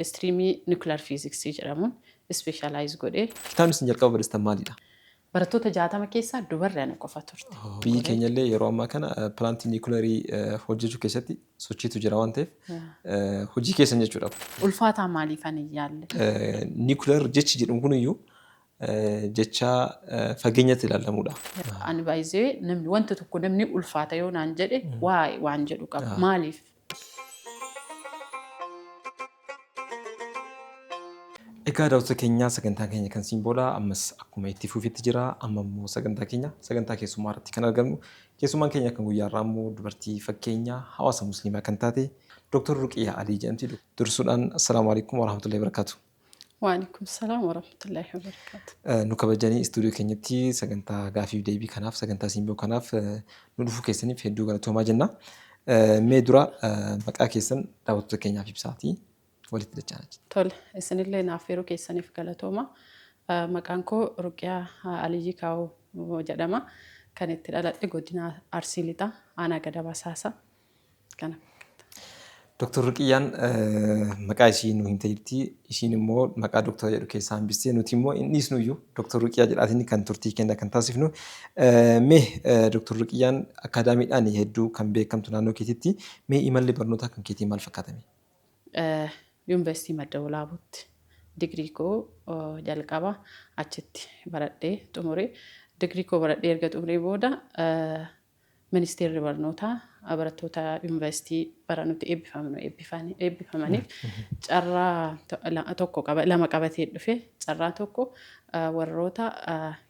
Istiriimii Nukilar Fiiziksii jedhamuun ispeeshaalaayiz godhe. Kitaabni isin jalqaba barreessitan maalidha? Barattoota 60 keessaa dubarri ana qofa turte. Biyyi keenyallee yeroo ammaa kana pilaantii niikulerii hojjechuu keessatti sochiitu jira waan ta'eef hojii keessan jechuudha kun. Ulfaataa maaliifan hin yaalle? Niikular jechi jedhamu kuniyyuu jecha fageenyatti ilaallamuudha. Ani by the way namni wanta tokko namni ulfaata yoo naan jedhe why waan jedhu qaba. Maaliif Egaa daawwattoota keenya sagantaan keenya kan siin booda ammas akkuma itti fufitti jira. Amma immoo sagantaa keenya sagantaa keessummaa irratti kan argamnu. Keessummaan keenya kan guyyaa irraa immoo dubartii fakkeenya hawaasa musliimaa kan taate Dooktar Ruqiyaa Alii jedhamti. Dursuudhaan assalaamu alaikum warahmatullahi wabarakatuh. Waalaikum salaam warahmatullahi wabarakatuh. Eh, nu kabajanii istuudiyoo keenyatti sagantaa gaafiif deebii kanaaf sagantaa siimboo kanaaf eh, nu dhufuu keessaniif hedduu galatoomaa jenna. Eh, mee dura eh, maqaa keessan daawwattoota keenyaaf ibsaatii walitti dachaa jira. Tole, isinillee naaf yeroo keessaniif galatooma. Eh, Maqaan koo Ruqiyaa eh, Aliyyii Kaawoo jedhama. Kan itti dhaladhe godina Arsii Lixaa, aanaa Gadaba Saasa. Kana fakkaata. Doktor Ruqiyyaan maqaa ishii nu himte jirti. Ishiin immoo maqaa doktora jedhu keessaa hambistee nuti immoo hin dhiisnu iyyuu doktor Ruqiyyaa jedhaatiin kan turtii kenna kan taasifnu. Mee doktor Ruqiyyaan akaadaamiidhaan hedduu kan beekamtu naannoo keetitti mee imalli barnootaa kan keetii maal fakkaatame? Yuunivarsiitii Madda Walaabuutti digirii koo jalqaba achitti baradhee xumure. Digirii koo baradhee erga xumuree booda Ministeerri Barnootaa barattoota Yuunivarsiitii bara nuti eebbifamnu eebbifamaniif carraa tokko qaba lama qabatee dhufe. Carraa tokko warroota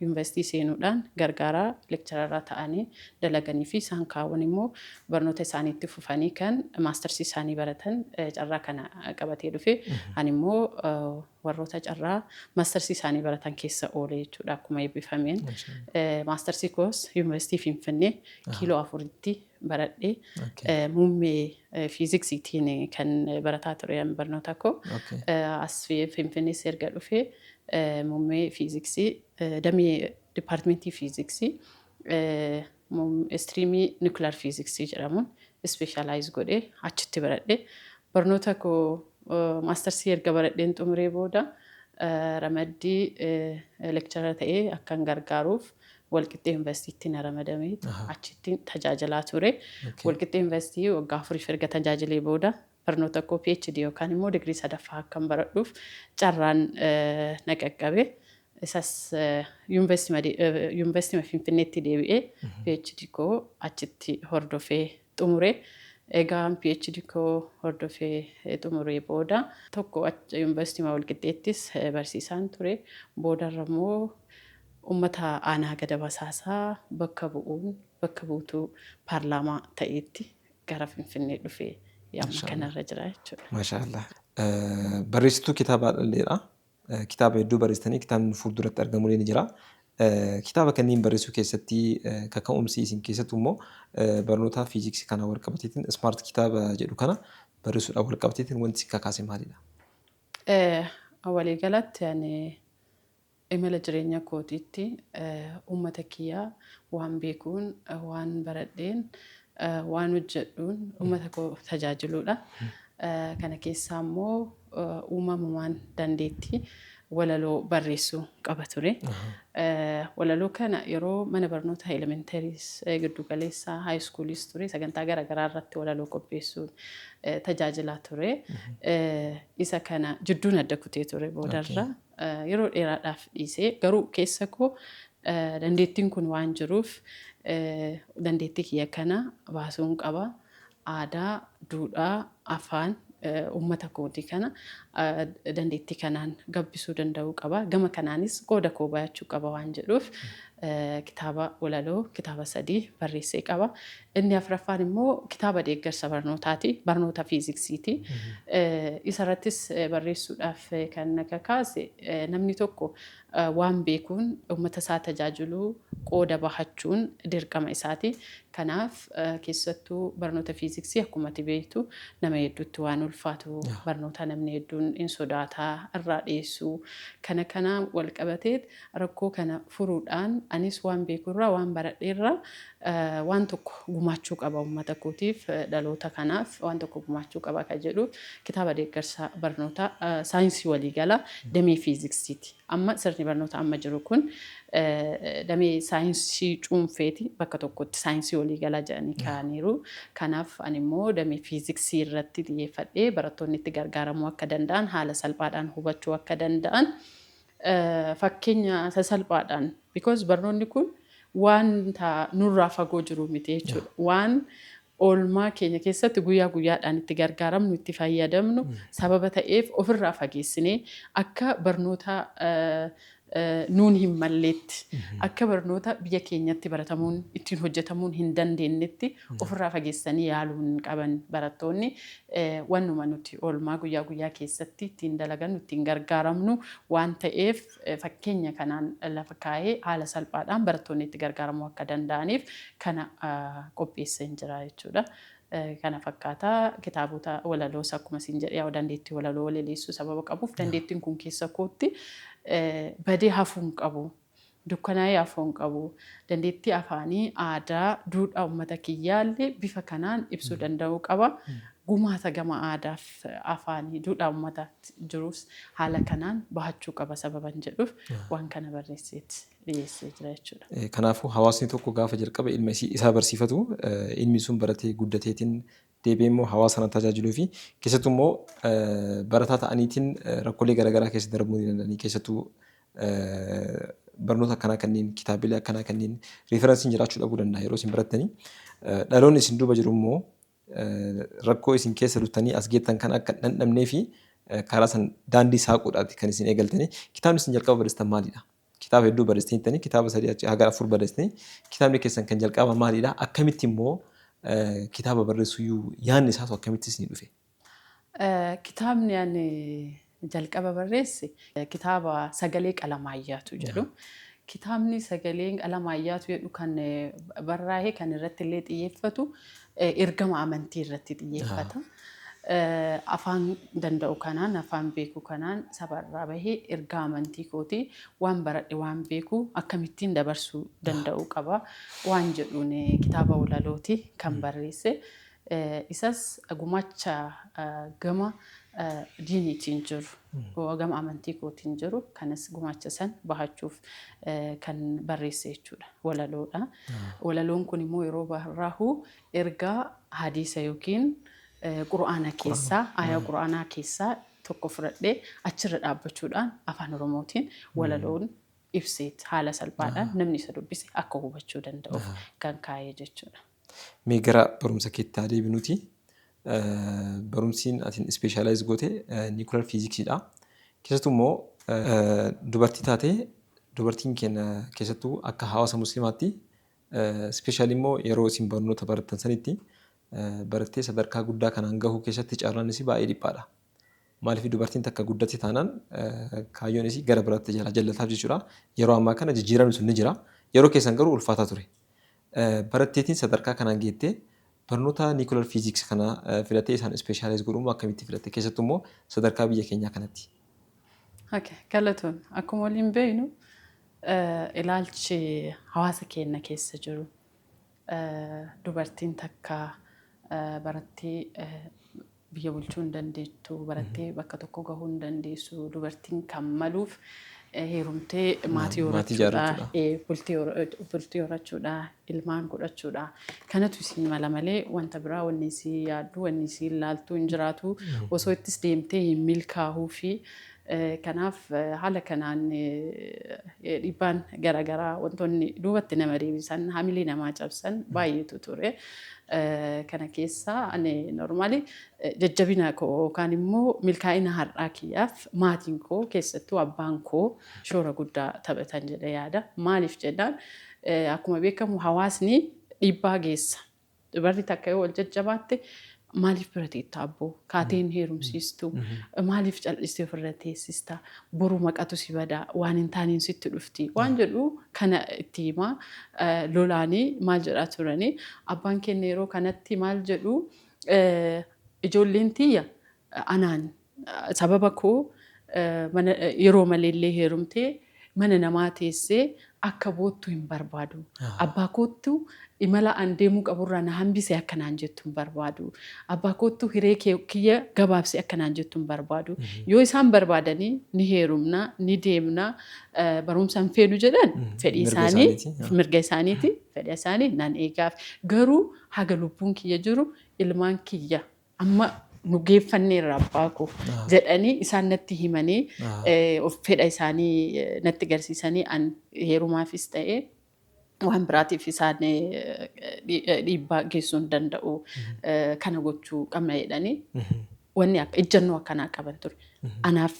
yuunivarsiitii seenuudhaan gargaaraa lekchararaa ta'anii dalaganii fi isaan kaawwan immoo barnoota isaanii itti fufanii kan maastarsii isaanii baratan carraa kana qabatee dhufe. Ani immoo warroota carraa maastarsii isaanii baratan keessa oole jechuudha akkuma eebbifameen. Maastarsii koos Yuunivarsiitii Finfinnee kiiloo afuritti baradhe. Muummee fiiziksiitiin kan barataa ture barnoota koo. As Finfinnees erga dhufee muummee fiiziksii damee dipaartimentii fiiziksii Istiriimii Nuclear Physics jedhamuun Specialize godhee achitti baradhe. Barnoota koo Maastarsii erga baradheen xumuree booda ramaddii Lecturer ta'ee akkan gargaaruuf Walqixxee Universitytti na ramadame. Achittin tajaajilaa ture. Walqixxee University waggaa afuriif erga tajaajilee booda Barnoota koo PhD yookaan immoo digrii sadaffaa akkan baradhuuf carraan na qaqqabe. Isas Yuunivarsiitii Finfinneetti deebi'ee PhD koo achitti hordofee xumure. Egaan PhD koo hordofee xumuree booda tokko Yuunivarsiitii Walqixxeettis barsiisaan ture. Boodarra immoo uummata aanaa Gada Basaasaa bakka bu'uun bakka buutuu paarlaamaa ta'eetti gara Finfinnee dhufee yamma kanarra jira jechuudha. Maashaa Allah. Barreessituu kitaabaa dhalleedha. Kitaaba hedduu barreessitanii kitaabni fuulduratti argamullee ni jira. Kitaaba kanneen barreessuu keessatti kaka'umsi isin keessattuu immoo barnootaa fiiziksii kana wal qabateetiin ismaart kitaaba jedhu kana barreessuudhaan wal qabateetiin wanti isin kakaase maalidha? Walii galatti ani Imala jireenya kootiitti uummata kiyya waan beekuun, waan baradheen, waan hojjedhuun uummata koo tajaajiluudha. Kana keessaa immoo uumamumaan dandeettii walaloo barreessuu qaba ture. Walaloo kana yeroo mana barnootaa elementaries, giddu galeessaa, high schoolis ture sagantaa gara garaa irratti walaloo qopheessuun tajaajilaa ture. Isa kana jidduun adda kutee ture boodarra. Yeroo dheeraadhaaf dhiise. Garuu keessa koo dandeettiin kun waan jiruuf dandeettii kiyya kana baasuun qaba. Aadaa, duudhaa, afaan uummata kootii kana dandeettii kanaan gabbisuu danda'uu qaba. Gama kanaanis qooda koo bahachuu qaba waan jedhuuf kitaaba walaloo kitaaba sadii barreessee qaba. Inni afraffaan immoo kitaaba deeggarsa barnootaati. Barnoota fiiziksiiti. Isarrattis barreessuudhaaf kan na kakaase namni tokko waan beekuun uummata isaa tajaajiluu qooda bahachuun dirqama isaati. Kanaaf keessattuu barnoota fiiziksii akkuma ati beektu nama hedduutti waan ulfaatu barnootaa namni hedduun hin sodaataa irraa dheessuu kana kanaan wal qabatee Rakkoo kana furuudhaan anis waan beeku irraa, waan baradhe irraa waan tokko gumaachuu qaba uummata kootiif, dhaloota kanaaf waan tokko gumaachuu qaba kan jedhuuf kitaaba deeggarsa barnootaa saayinsii waliigalaa damee fiiziksiiti. Amma sirni barnootaa amma jiru kun damee saayinsii cuunfeeti bakka tokkotti saayinsii waliigalaa jedhanii kaa'aniiru. Kanaaf ani immoo damee fiiziksii irratti xiyyeeffadhee barattoonni itti gargaaramuu akka danda'an, haala salphaadhaan hubachuu akka danda'an Fakkeenya sasalphaadhaan because barnoonni kun waanta nurraa fagoo jiru miti jechuudha. Waan oolmaa keenya keessatti guyyaa guyyaadhaan itti gargaaramnu, itti fayyadamnu sababa ta'eef ofirraa fageessinee akka barnoota nuun hin malleetti, akka barnoota biyya keenyatti baratamuun, ittiin hojjetamuun hin dandeennetti ofirraa fageessanii yaaluu hin qaban barattoonni. wannuma nuti oolmaa guyyaa guyyaa keessatti ittiin dalagannu, ittiin gargaaramnu waan ta'eef fakkeenya kanaan lafa kaa'ee haala salphaadhaan barattoonni itti gargaaramuu akka danda'aniif kana qopheesseen jira jechuudha. Kana fakkaata kitaabota walaloos akkuma siin jedhe yaa'u dandeettii walaloo walaleessuu sababa qabuuf dandeettiin kun keessa kootti badee hafuu hin qabu. dukkanaa'ee afoon qabu. Dandeettii afaanii, aadaa, duudhaa uummata kiyyaallee bifa kanaan ibsuu danda'uu qaba. Gumaata gama aadaaf afaanii, duudhaa uummataatti jirus haala kanaan bahachuu qaba sababan jedhuuf waan kana barreesseet dhiyeessee jira jechuudha. Kanaafuu hawaasni tokko gaafa jalqaba ilma isaa barsiifatu ilmi sun baratee guddateetiin deebi'ee immoo hawaasa sana tajaajiluu fi keessattuu immoo barataa ta'aniitiin rakkoolee garaagaraa keessa darbuu ni danda'anii keessattuu barnoota akkanaa kanneen kitaabilee akkanaa kanneen riifaransiin jiraachuu dhabuu danda'a yeroo isin barattanii dhaloonni isin duuba jiru immoo rakkoo isin keessa turtanii as geettan kan akka dhandhamnee fi karaa san daandii saaquudhaati kan isin eegaltanii kitaabni isin jalqaba barreessitan maalidha? Kitaaba hedduu barreessitanii jirtanii, kitaaba sadii achi haga afur barreessitanii. Kitaabni keessan kan jalqabaa maalidha? Akkamitti immoo kitaaba barreessuyyuu yaadni isaatu akkamitti isinii dhufe? Kitaabni ani jalqaba barreesse kitaaba Sagalee Qalamaayyaatu jedhu. Kitaabni Sagaleen Qalamaayyaatu jedhu kan barraahe kan irratti illee xiyyeeffatu ergama amantii irratti xiyyeeffata. Afaan danda'u kanaan, afaan beeku kanaan saba irraa bahe, ergaa amantii kooti, waan baradhe, waan beeku akkamittiin dabarsuu danda'uu qaba waan jedhuun kitaaba walalooti kan barreesse. Isas gumaacha gama diiniitiin jiru, gama amantii kootiin jiru kanas gumaacha san bahachuuf kan barreesse jechuudha. Walaloodha. Walaloon kun immoo yeroo barraahu Ergaa hadiisa yookiin Qur'aana keessaa, aayah Qur'aanaa keessaa tokko fudhadhee achirra dhaabbachuudhaan Afaan Oromootiin walaloon ibseet haala salphaadhaan namni isa dubbise akka hubachuu danda'uuf kan kaa'e jechuudha. Mee gara barumsa keetti haa deebinuti. Barumsiin atin specialize goote nuclear physics dha. Keessattuu immoo dubartii taatee dubartiin keenya keessattuu akka hawaasa muslimaatti Specially immoo yeroo isin barnoota barattan sanitti barattee sadarkaa guddaa kanaan gahuu keessatti carraan isii baay'ee dhiphaadha. Maaliif dubartiin takka guddatti taanaan kaayyoon isii gara biraatti jala jallataaf jechuudha. Yeroo ammaa kana jijjiiramni sun ni jira. Yeroo keessan garuu ulfaataa ture. Baratteetiin sadarkaa kanaan geettee barnoota nuclear physics kana filattee isaan specialize godhuu akkamitti filatte keessattuu immoo sadarkaa biyya keenyaa kanatti. Okay, galatoon akkuma waliin beeknu eh, ilaalchi hawaasa keenya keessa jiru eh, dubartiin takka eh, barattee eh, biyya bulchuu hin dandeettu, barattee bakka tokko gahuu hin dandeessu, dubartiin kan maluuf eh, heerumtee maatii maatii horachuudha, jaarrachuudha. eh, bultii hor- eh, bultii horachuudha, ilmaan godhachuudha. Kanatu isii mala malee wanta biraa wanni isii yaaddu, wanni isii ilaaltu hin jiraatu. Osoo ittis deemtee hin milkaahuufi. Kanaaf haala kanaan dhiibbaan garaagaraa wantoonni duubatti nama deebisan, hamilee namaa cabsan baay'eetu ture. Kana keessaa ani normaali jajjabina koo yookaan immoo milkaa'ina har'aa kiyyaaf maatiin koo keessattuu abbaan koo shoora guddaa taphatan jedhee yaada. Maaliif jennaan Akkuma beekamu hawaasni dhiibbaa geessa. Dubarri takka yoo wal jajjabaatte maaliif bira teetta abboo? Kaatee hin heerumsiistu. Maaliif cal'istee ofirra teessista? Boru maqatu si bada. Waan hin taaneen sitti dhufti. Waan jedhu kana itti himaa lolaanii maal jedhaa turanii. Abbaan keenya yeroo kanatti maal jedhu ijoolleen tiyya anaan Sababa koo mana yeroo malee illee heerumtee mana namaa teessee akka boottu hin barbaadu. Abbaa koottu imala an deemuu qabu irraa na hambise akka naan jettu hin barbaadu. Abbaa koottu hiree kee kiyya gabaabsi akka naan jettu hin barbaadu. Yoo isaan barbaadanii ni heerumna, ni deemna, eh, barumsa hin feenu jedhan fedhii Mirga isaanii, isaaniiti, yaa. mirga isaaniiti, fedha isaanii nan eegaaf. Garuu haga lubbuun kiyya jiru ilmaan kiyya amma nu geeffanneerra abbaa koo jedhanii isaan natti himanii eh, of fedha isaanii eh, natti garsiisanii an heerumaafis ta'e waan biraatiif isaan eh, dhi- eh, dhiibbaa geessuu hin danda'u eh, kana gochuu qabna jedhanii wanni akka- ejjennoo akkanaa qaban ture. Anaaf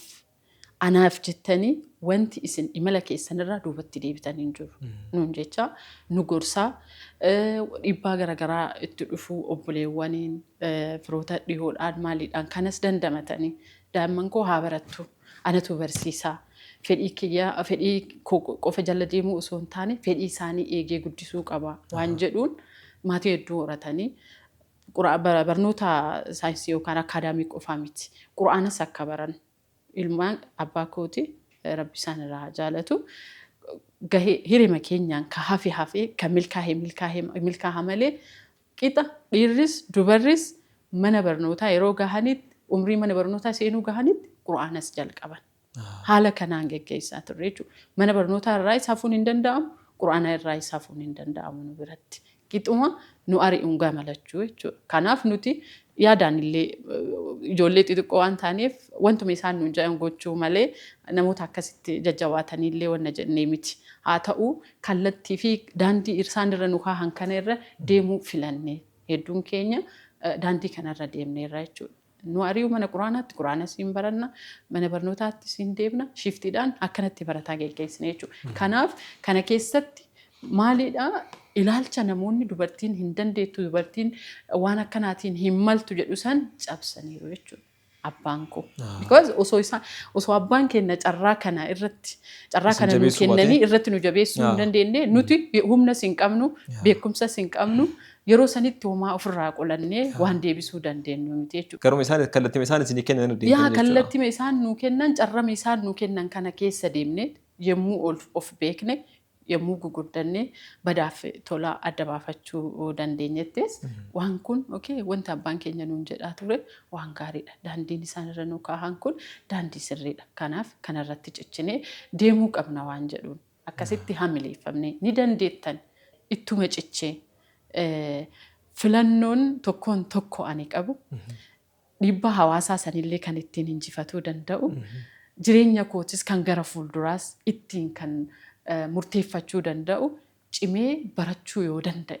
Anaaf jettanii wanti isin imala keessanirraa duubatti deebitan hin jiru nuun jechaa nu gorsaa dhiibbaa garagaraa itti dhufu obboleewwaniin firoota dhihoodhaan maaliidhaan kanas dandamatanii daa'imman koo haa barattu anatu barsiisaa fedhii kiyya fedhii qofa jala deemuu osoo hin taane fedhii isaanii eegee guddisuu qaba waan jedhuun maatii hedduu horatanii Barnoota saayinsii yookaan akaadaamii qofaa miti. Qur'aanas akka baran ilmaan abbaa kooti rabbi isaan irraa haa jaalatu gahee hirima keenyaan ka hafe hafee ka milkaahe milkaahe milkaaha malee qixa dhiirris dubarris mana barnootaa yeroo gahanitti umrii mana barnootaa seenuu gahanitti qur'aanas jalqaban. Haala kanaan geggeessaa turre jechuudha. Mana barnootaa irraayis hafuun hin danda'amu, Qur'aana irraayis hafuun hin danda'amu nu biratti. Qixuma nu ari'uun gama lachuu jechuudha. Kanaaf nuti yaadaan illee ijoollee xixiqqoo waan taaneef wantuma isaan nuun jedhan gochuu malee namoota akkasitti jajjabaatanii illee wanna jennee miti. Haa ta'u kallattii fi daandii isaan irra nu kaahan kana irra deemuu filanne. Hedduun keenya daandii kana irra deemneerra jechuudha. Nu ari'u mana quraanaatti quraana siin baranna, mana barnootaatti siin deebna, shiiftiidhaan akkanatti barataa geggeessina jechuudha. Kanaaf kana keessatti maaliidha ilaalcha namoonni dubartiin hin dandeettu, dubartiin waan akkanaatiin hin maltu jedhu san cabsaniiru jechuudha. abbaan koo. Because osoo isaa osoo abbaan keenya carraa kana irratti carraa Isin kana nuu jabeessuu kennanii baatee? irratti nu jabeessuu hin dandeenye nuti humna sin qabnu beekumsa sin qabnu Yeroo sanitti homaa ofirraa qolannee waan deebisuu dandeenyu miti jechuudha. Garuma isaan kallattima isaan isinii kennan irra deemtanii jechuudha. Yaa kallattima isaan nuu kennan carrama isaan nuu kennan kana keessa deemnee yemmuu ol of beekne yemmuu guguddannee badaaf tola adda baafachuu dandeenyettis waan kun okay wanti abbaan keenya nuun jedhaa ture waan gaariidha daandiin isaan irra nuu kaahan kun daandii sirriidha kanaaf kanarratti cichinee deemuu qabna waan jedhuun Akkasitti hamileeffamne. Ni dandeettan ittuma cichee filannoon tokkoon tokko ani qabu dhiibbaa hawaasaa sanillee kan ittiin injifatuu danda'u jireenya kootis kan gara fuulduraas ittiin kan murteeffachuu danda'u cimee barachuu yoo danda'e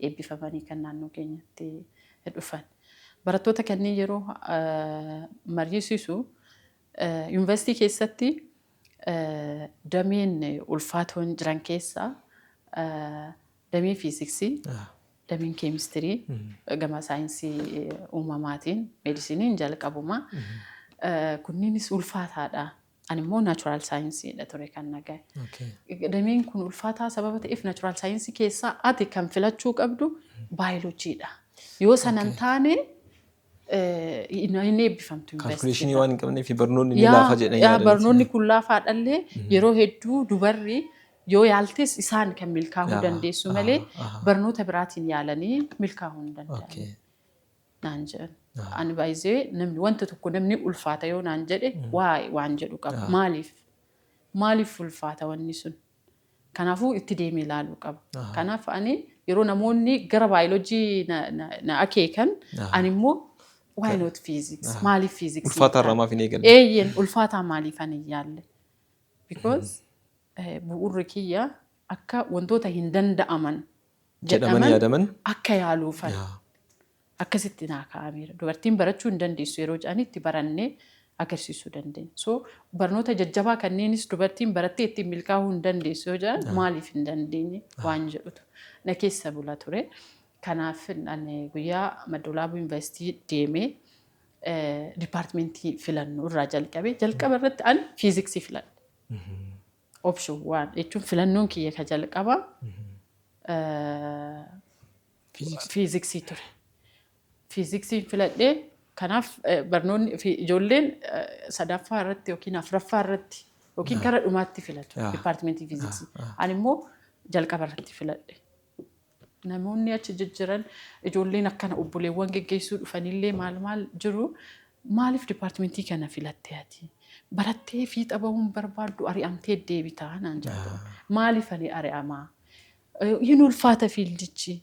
eebbifamanii kan naannoo keenyatti dhufan. Barattoota kanneen yeroo mariisisu yuunivarsiitii keessatti dameen ulfaatoon jiran keessaa damee fiiziksii, dameen keemistirii gama saayinsii uumamaatiin meedisiniin jalqabuma. Kunniinis ulfaataadha. Ani immoo naachuraal saayinsiidha ture kan na gahe. Okay. Dameen kun ulfaataa sababa ta'eef naachuraal saayinsii keessaa ati kan filachuu qabdu baayoloojiidha. Yoo sana hin Okay. taane eh, hin hin eebbifamtu Kaalkuleeshinii yuunivarsiitii waan hin qabneef barnoonni ni Yaa- laafa jedhanii yaa yaadanii. barnoonni kun laafaadhallee yeroo hedduu dubarri yoo yaaltes isaan kan milkaa'uu Yaa, dandeessu aha, malee aha. barnoota biraatiin yaalanii milkaa'uu hin danda'an. Okay. naan jedhan. Ani baay'isee namni wanta tokko namni ulfaata yoo naan jedhe waa'ee waan jedhu qaba. Maaliif? Maaliif ulfaata wanni sun? Kanaafuu itti deemee ilaaluu qaba. Kanaaf ani yeroo namoonni gara baayoloojii na, na, na akeekan ani immoo why not physics? Maaliif physics? Ulfaataa irraa maaf hin eegalle? Eeyyeen ulfaataa maaliif ani hin yaalle? Because eh, bu'uurri kiyya akka wantoota hin danda'aman jedhaman yaadaman akka yaaluufan akkasitti naa kaa'ameera. Dubartiin barachuu hin dandeessu yeroo jedhanii itti barannee agarsiisuu dandeenya. So barnoota jajjabaa kanneenis dubartiin barattee ittiin milkaa'uu hin dandeessu yoo jedhan maaliif hin dandeenye waan jedhutu na keessa bula ture. Kanaaf ani guyyaa Maddoolaabuu Yuunivarsiitii deemee dipaartimentii filannoo irraa jalqabee jalqaba irratti ani fiiziksii filadhe. Option one jechuun filannoon kiyya ka jalqaba Physics. fiiziksii ture. Fiiziksiin filadhee kanaaf eh, barnoonni fi ijoolleen eh, sadaffaa irratti yookiin afraffaa irratti yookiin kara dhumaatti filatu Ah. dipaartimentii fiiziksii. Ah, ah. Ani immoo jalqaba irratti filadhe. Namoonni achi jijjiran ijoolleen akkana obboleewwan geggeessuu dhufanillee maal maal jiru maaliif dipaartimentii kana filattee ati barattee fiixa bahuun barbaaddu ari'amtee deebitaa naan jedhu maaliif ani ari'amaa hin ulfaata fiildichi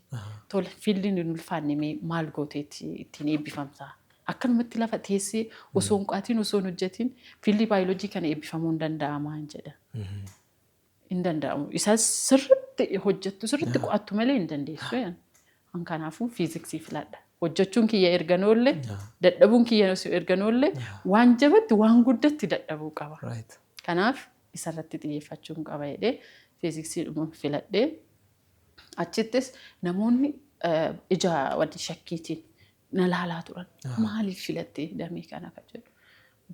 tole fiildiin hin ulfaanne mee maal gooteetti ittiin eebbifamtaa akkanumatti lafa teessee osoo hin qo'atiin osoo hin hojjetiin fiildii baayoloojii kana eebbifamuu hin danda'amaa hin jedha. hin danda'amu. Isa sirriitti hojjettu sirriitti qo'attu malee hin dandeessu. jedhan. An kanaafuu fiiziksii filadha. Hojjechuun kiyya erga noolle, dadhabuun kiyya erga noolle, waan jabatti waan guddatti dadhabuu qaba. Right. Kanaaf isarratti xiyyeeffachuun qaba jedhee fiiziksiidhuma filadhee achittis namoonni eh, ija wal shakkiitiin na laalaa turan. Maaliif filattee damee kana kan jedhu.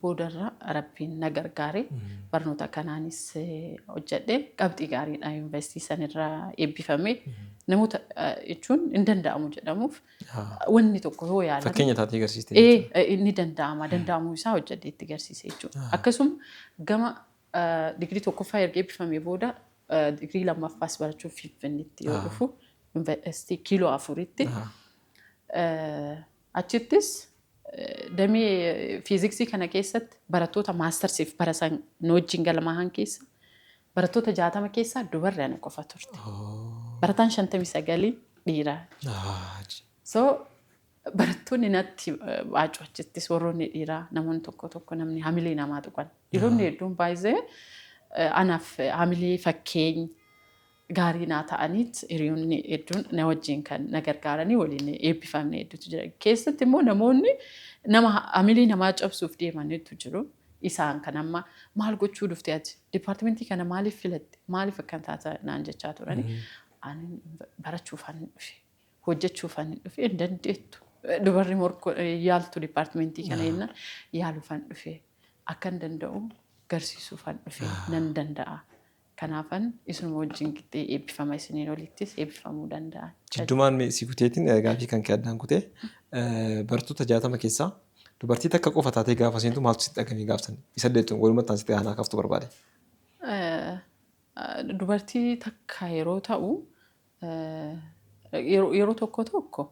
Boodarra Rabbiin na gargaare. Barnoota kanaanis hojjedheen qabxii gaariidhaan yuunivarsiitii sanirra eebbifame. Namoota jechuun hin danda'amu jedhamuuf wanni tokko yoo yaalan. Fakkeenya taatee agarsiiste jechuudha. Inni danda'ama. Danda'amuu isaa hojjedhee itti agarsiise jechuudha. Akkasuma gama digirii tokkoffaa erga eebbifamee booda digirii lammaffaas barachuuf Finfinneetti yoo dhufu yuunivarsiitii kiiloo afuritti Achittis damee fiiziksii kana keessatti barattoota maastarsiif barasan nu wajjin galmaahan keessa barattoota jaatama keessaa dubarri ana qofa turte. Barataan shantamii sagalii dhiira. So barattoonni natti baacu achittis warroonni dhiiraa namoonni tokko tokko namni hamilee namaa tuqan. Dhiironni hedduun baay'ee anaaf hamilee fakkeenya gaarii naa ta'aniit hiriyoonni hedduun na wajjin kan na gargaaranii waliin eebbifamne hedduutu jira. Keessatti immoo namoonni nama hamilee namaa cabsuuf deeman hedduu jiru. Isaan kan amma maal gochuu dhufte ati dipaartimentii kana maaliif filatte maaliif akkan taata naan jechaa turani. Ani barachuufan hin dhufe hojjechuufan hin dhufe hin dandeettu dubarri morko yaaltu dipaartimentii kana jennaan yaaluufan dhufe akkan danda'u garsiisuufan dhufe nan danda'a Kanaafan isinuma wajjin qixxee eebbifama isiniin olittis eebbifamuu danda'a. Jiddumaan mee si kuteetiin gaafii kan kee addaan kutee bartoota jaatama keessaa dubartii takka qofa taatee gaafa seentu maaltu sitti dhagahame gaaf san isa deettuun walumatti taasitee aanaa kaaftu barbaade. Dubartii takka yeroo ta'u yeroo tokko tokko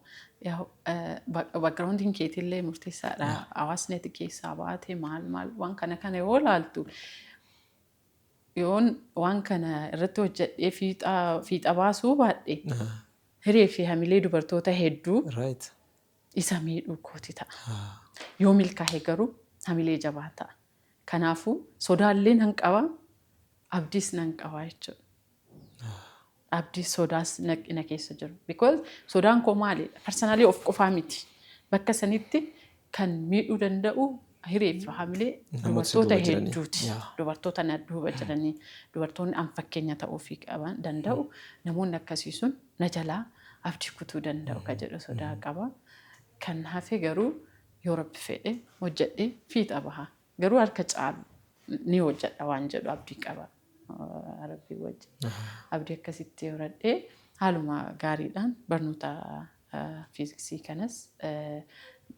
backgroundiin keetillee murteessaadha. Hawaasni ati keessaa baate maal maal waan kana kana yoo laaltu Yoon waan kana irratti hojjedhee fiixa fiixa baasuu baadhe Ah, hiree fi hamilee dubartoota hedduu right. isa miidhuu kooti ta'a. Ah, Yoo milkaa'e garuu hamilee jabaa ta'a. Kanaafuu sodaallee nan qaba, abdiis nan qaba jechuudha. Abdi sodaas nag- na keessa jira. Because sodaan koo maalidha? Personally of qofaa miti. Bakka sanitti kan miidhuu danda'u hiree fi hamilee Namoota dubartoota duuba jiranii. hedduuti. Yaa. Dubartoota na duuba jiranii, dubartoonni an fakkeenya ta'uufii qaban danda'u. Namoonni akkasii sun na jalaa abdii kutuu danda'u ka jedhu sodaa qaba. Kan hafe garuu yoo rabbi fedhe hojjedhee fiixa baha. Garuu harka caalu ni hojjedha waan jedhu abdii qaba rabbii wajji. Abdii akkasitti horadhee haaluma gaariidhaan barnoota fiiziksii kanas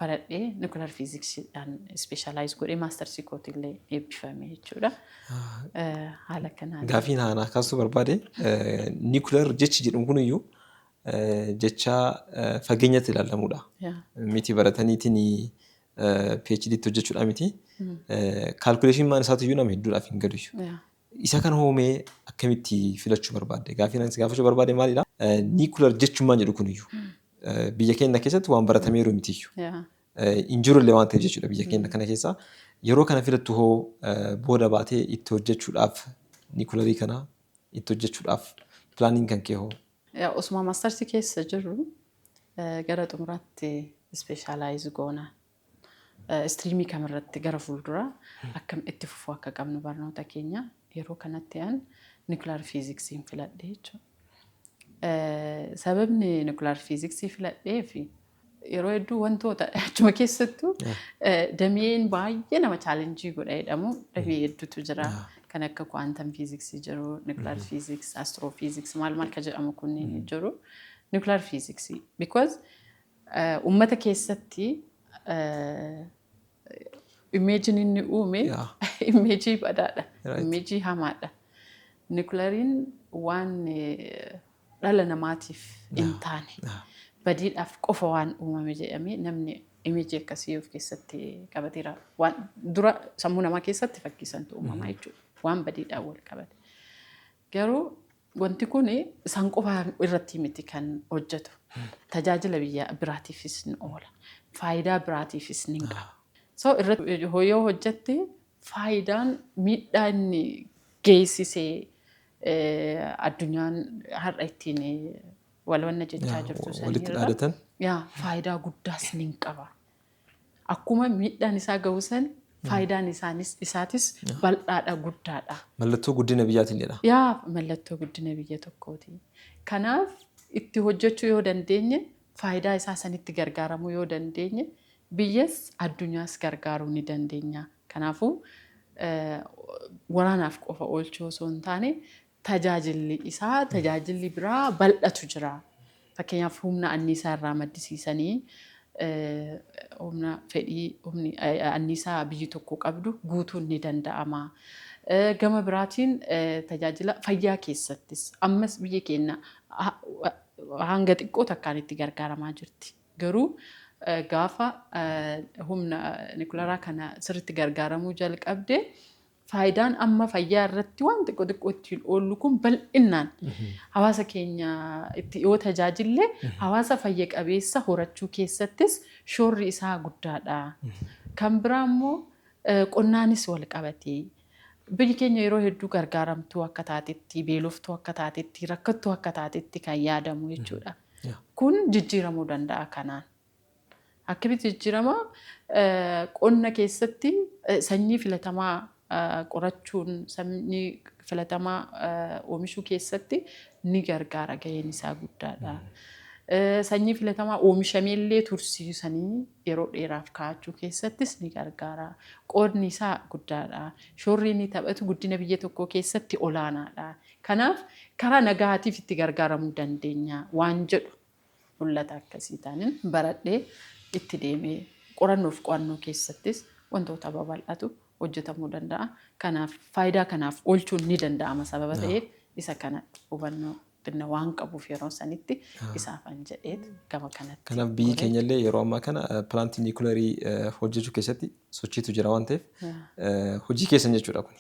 baradhee nukilar fiiziksiidhaan ispeeshaalaayiz godhee maastarsii kootillee eebbifame jechuudha. Haala kanaan. Gaafiin haanaa kaasuu barbaade niikular jechi jedhamu kun iyyuu jecha fageenyatti ilaalamudha. Miti barataniitiin PhD itti hojjechuudhaa miti. Kaalkuleeshin maan isaatu iyyuu nama hedduudhaaf hin galu. Isa kan hoomee akkamitti filachuu barbaadde? Gaaffiin ani si gaafachuu barbaade maalidha? Niikular jechummaan jedhu kun iyyuu biyya keenya keessatti waan baratamee jiru miti iyyuu. Hin jiru illee waan ta'eef jechuudha biyya keenya kana keessaa. Yeroo kana filattu hoo booda baatee itti hojjechuudhaaf niikularii kana itti hojjechuudhaaf pilaaniin kan kee hoo Osuma mastersi keessa jirru gara xumuraatti ispeeshaalaayiz goona. Istiriimii kamirratti gara fuulduraa akkam itti fufuu akka qabnu barnoota keenya yeroo kanatti an niwukilaar fiiziksiin filadhe jechuudha. Sababni niwukilaar fiiziksii filadheef yeroo hedduu wantoota achuma keessattuu dameen baay'ee nama chaalenjii godha jedhamu damee hedduutu jira. Kan akka kuwaantam fiiziksii jiru, niwukilaar fiiziks, astroo fiiziks maal maal ka jedhamu kunniin jiru. Niwukilaar fiiziksii because uummata keessatti imeejiin inni uume imeejii badaadha, imeejii hamaadha. Niwukilariin waan dhala namaatiif hin taane badiidhaaf qofa waan uumame jedhamee namni image akkasii of keessatti qabateera. Waan dura sammuu namaa keessatti fakkii santu uumama jechuudha. Waan badiidhaan wal qabate. Garuu wanti kun isaan qofa irratti miti kan hojjetu. Tajaajila biyya biraatiifis ni oola. Faayidaa biraatiifis ni qaba. So irratti yoo hojjette faayidaan miidhaa inni geessisee addunyaan har'a ittiin wal wanna jechaa Yaa, jirtu walitti sanirra dhaadatan. yaa faayidaa guddaa isiniin qaba. Akkuma miidhaan isaa gahu san faayidaan isaanis isaatis bal'aadha guddaadha. Mallattoo guddina biyyaatiin jedha. Yaa mallattoo guddina biyya tokkooti. Kanaaf itti hojjechuu yoo dandeenye faayidaa isaa sanitti gargaaramuu yoo dandeenye Biyyas addunyaas gargaaruu ni dandeenya. Kanaafuu, waraanaaf qofa oolchuu osoo hin taane tajaajilli isaa tajaajilli biraa bal'atu jira. Fakkeenyaaf humna anniisaa irraa maddisiisanii humna fedhii humni anniisaa biyyi tokko qabdu guutuun ni danda'ama. Gama biraatiin tajaajila fayyaa keessattis ammas biyyi keenya hanga xiqqoo takkaan itti gargaaramaa jirti. Garuu gaafa humna nikularaa kana sirriitti gargaaramuu jalqabde faayidaan amma fayyaa irratti waan xiqqoo xiqqoo ittiin oollu kun bal'innaan hawaasa keenya itti yoo tajaajille hawaasa fayya qabeessa horachuu keessattis shoorri isaa guddaadha. Kan biraa immoo qonnaanis wal qabatee biyyi keenya yeroo hedduu gargaaramtuu akka taatetti, beeloftuu akka taatetti, rakkattuu akka taatetti kan yaadamu jechuudha. Kun jijjiiramuu danda'a kanaan. Akkamitti jijjiirama? Qonna keessatti sanyii filatamaa qorachuun sanyii filatamaa oomishuu keessatti ni gargaara gaheen isaa guddaadha. Sanyii filatamaa oomishamee illee tursiisanii yeroo dheeraaf kaa'achuu keessattis ni gargaara. Qoodni isaa guddaadha. Shoorri inni taphatu guddina biyya tokkoo keessatti olaanaadha. Kanaaf karaa nagahaatiif itti gargaaramuu dandeenya waan jedhu mul'ata akkasii taanin baradhee itti deeme. Qorannoof qo'annoo keessattis wantoota babal'atu hojjetamuu danda'a. Kanaaf faayidaa kanaaf oolchuun ni danda'ama sababa ta'eef isa kana hubannoo xinna waan qabuuf yeroo sanitti isaafan jedheet gama kanatti. Kanaaf biyyi keenya illee yeroo ammaa kana pilaantii niikuleerii hojjechuu keessatti sochiitu jira waan ta'eef hojii keessan jechuudha kuni.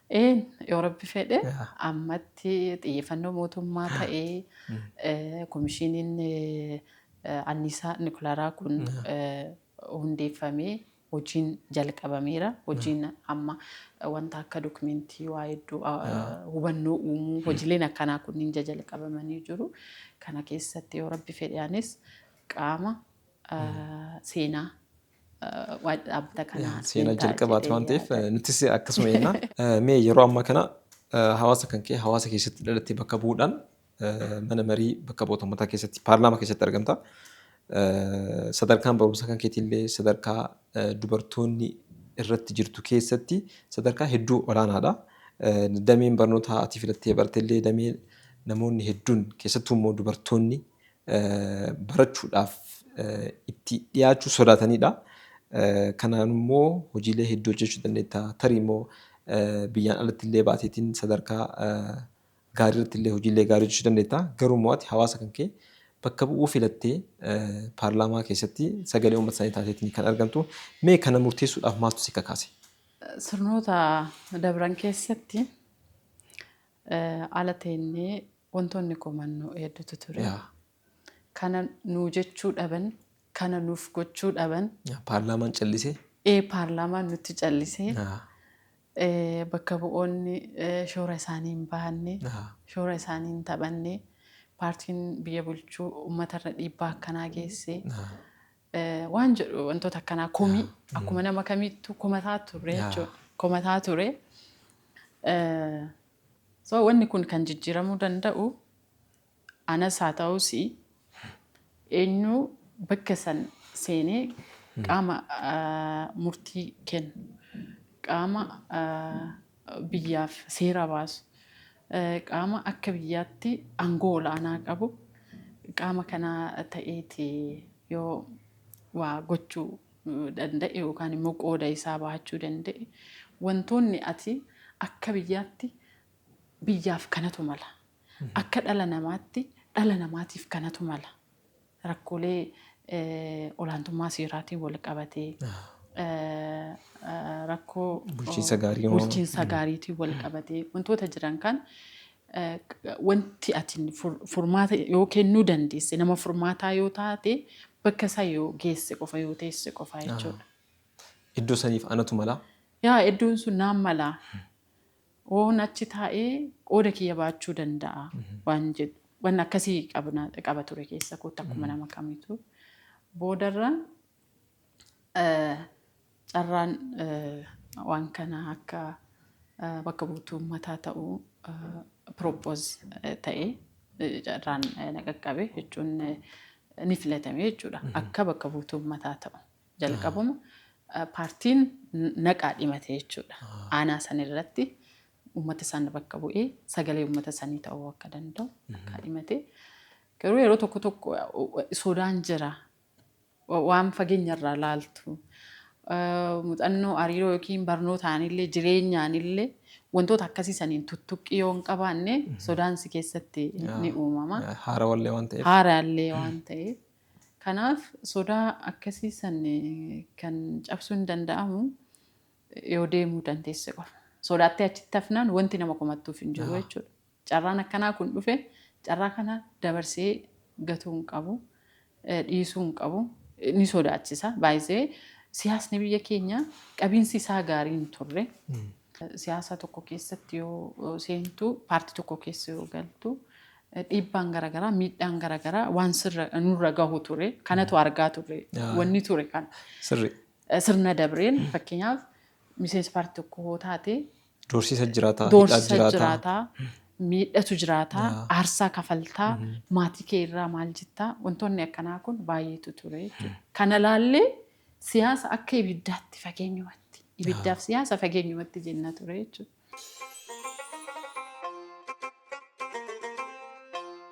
Een yoo rabbi fedhe Yaa. ammatti xiyyeeffannoo mootummaa ta'ee eh, komishiiniin eh, anniisaa nikulaaraa kun eh, hundeeffamee hojiin jalqabameera. Hojiin amma eh, wanta akka dokumentii waa hedduu ah, hubannoo uumuu hojileen akkanaa kunniin jajalqabamanii jiru. Kana keessatti yoo rabbi fedhe anis qaama ah, seenaa waa'ee dhaabbata kanaa Seena siin ta'a jalqabaati jedhee waan ta'eef yaada. nutis akkasuma jenna. Mee yeroo ammaa kana hawaasa kan kee hawaasa keessatti dhalattee bakka bu'uudhaan mana marii bakka bu'oota ummataa keessatti paarlaamaa keessatti argamta. Sadarkaan barumsa kan keetiillee sadarkaa dubartoonni irratti jirtu keessatti sadarkaa hedduu olaanaadha. Dameen barnootaa ati filattee bartellee damee namoonni hedduun keessattuu immoo dubartoonni barachuudhaaf itti dhiyaachuu sodaatanidha. Kanaan immoo hojiilee hedduu hojjechuu dandeetta. Tarii immoo biyyaan alatti illee baateetiin sadarkaa gaarii irratti illee hojiilee gaarii hojjechuu dandeetta. Garuu immoo ati hawaasa kan kee bakka bu'uu filattee paarlaamaa keessatti sagalee uummata isaanii taateetiin kan argamtu. Mee kana murteessuudhaaf maaltu si kakaase? Sirnoota dabran keessatti ala teennee wantoonni qomannu hedduutu ture. Yaa. Kana nuu jechuu dhaban, kana nuuf gochuu dhaban, Yaa, Paarlaamaan callisee. ee paarlaamaan nutti callisee, Yaa. ee, bakka bu'oonni ee, shoora isaanii hin bahanne, Yaa. shoora isaanii hin taphanne, paartiin biyya bulchuu uummatarra dhiibbaa akkanaa geessee, Yaa. waan jedhu wantoota akkanaa komii akkuma nama kamiittu komataa turre jechuudha. Komataa ture. So wanni kun kan jijjiiramuu danda'u anas haa ta'us eenyu bakka san seenee qaama murtii kennu qaama biyyaaf seera baasu, qaama akka biyyaatti aangoo ol'aanaa qabu qaama kanaa ta'eeti yoo waa gochuu danda'e yookaan immoo qooda isaa bahachuu danda'e wantoonni ati akka biyyaatti biyyaaf kanatu mala, akka dhala namaatti dhala namaatiif kanatu mala rakkoolee olaantummaa seeraatiin wal qabatee rakkoo Bulchiinsa gaarii moo? bulchiinsa gaariitiin wal qabatee wantoota jiran kan eh, wanti ati fur- furmaata yoo kennuu dandeesse nama furmaataa yoo taate bakka isaa yoo geesse qofa yoo teesse qofa jechuudha. Iddoo saniif anatu malaa? Yaa iddoon sun naan malaa Woon achi taa'ee qooda kiyya ba'achuu danda'a waan jedhu waan akkasii qabna qaba ture keessa kootti akkuma nama kamiitu. Boodarra eh, carraan eh, waan kana akka eh, bakka buutuu uummataa ta'uu eh, propose eh, ta'e eh, carraan eh, na qaqqabe jechuun eh, ni filatame jechuudha akka bakka buutuu uummataa ta'u. Jalqabuma paartiin naqaa dhimate jechuudha. Aanaa san irratti uummata san bakka bu'ee sagalee uummata sanii ta'uu akka danda'u naqaa dhimate. Garuu yeroo tokko tokko sodaan jira. Waan fageenya irraa laaltu. Muuxannoo hariiroo yookiin barnootaanillee jireenyaanillee wantoota akkasii saniin tuttuqqii yoo hin qabaanne sodaan si keessatti ni uumama. Haarawallee waan ta'eef. Haaraallee waan ta'eef. Kanaaf sodaa akkasii san kan cabsuun danda'amu yoo deemuu dandeesse qofa. Sodaattee achitti hafnaan wanti nama komattuuf hin jiru jechuudha. Carraan akkanaa kun dhufe carraa kana dabarsee gatuu hin qabu, dhiisuu hin qabu, ni sodaachisa. Baay'isee siyaasni biyya keenya qabiinsi isaa gaarii hin turre. Siyaasa tokko keessatti yoo seentu, paartii tokko keessa yoo galtu, dhiibbaan garaagaraa, miidhaan garaagaraa waan sirra nurra gahu ture. Kanatu argaa ture. Wanni ture kana. Sirri. Sirna dabreen fakkeenyaaf miseensa paartii tokko yoo taate. Doorsisa jiraataa. Doorsisa jiraataa. Miidhatu jiraataa. Aarsaa kafaltaa. Maatii kee irraa maal jettaa? Wantoonni akkanaa kun baay'eetu ture. Kana laallee Siyaasa akka ibiddaatti fageenyumatti, ibiddaaf siyaasa fageenyumatti jenna ture jechuudha.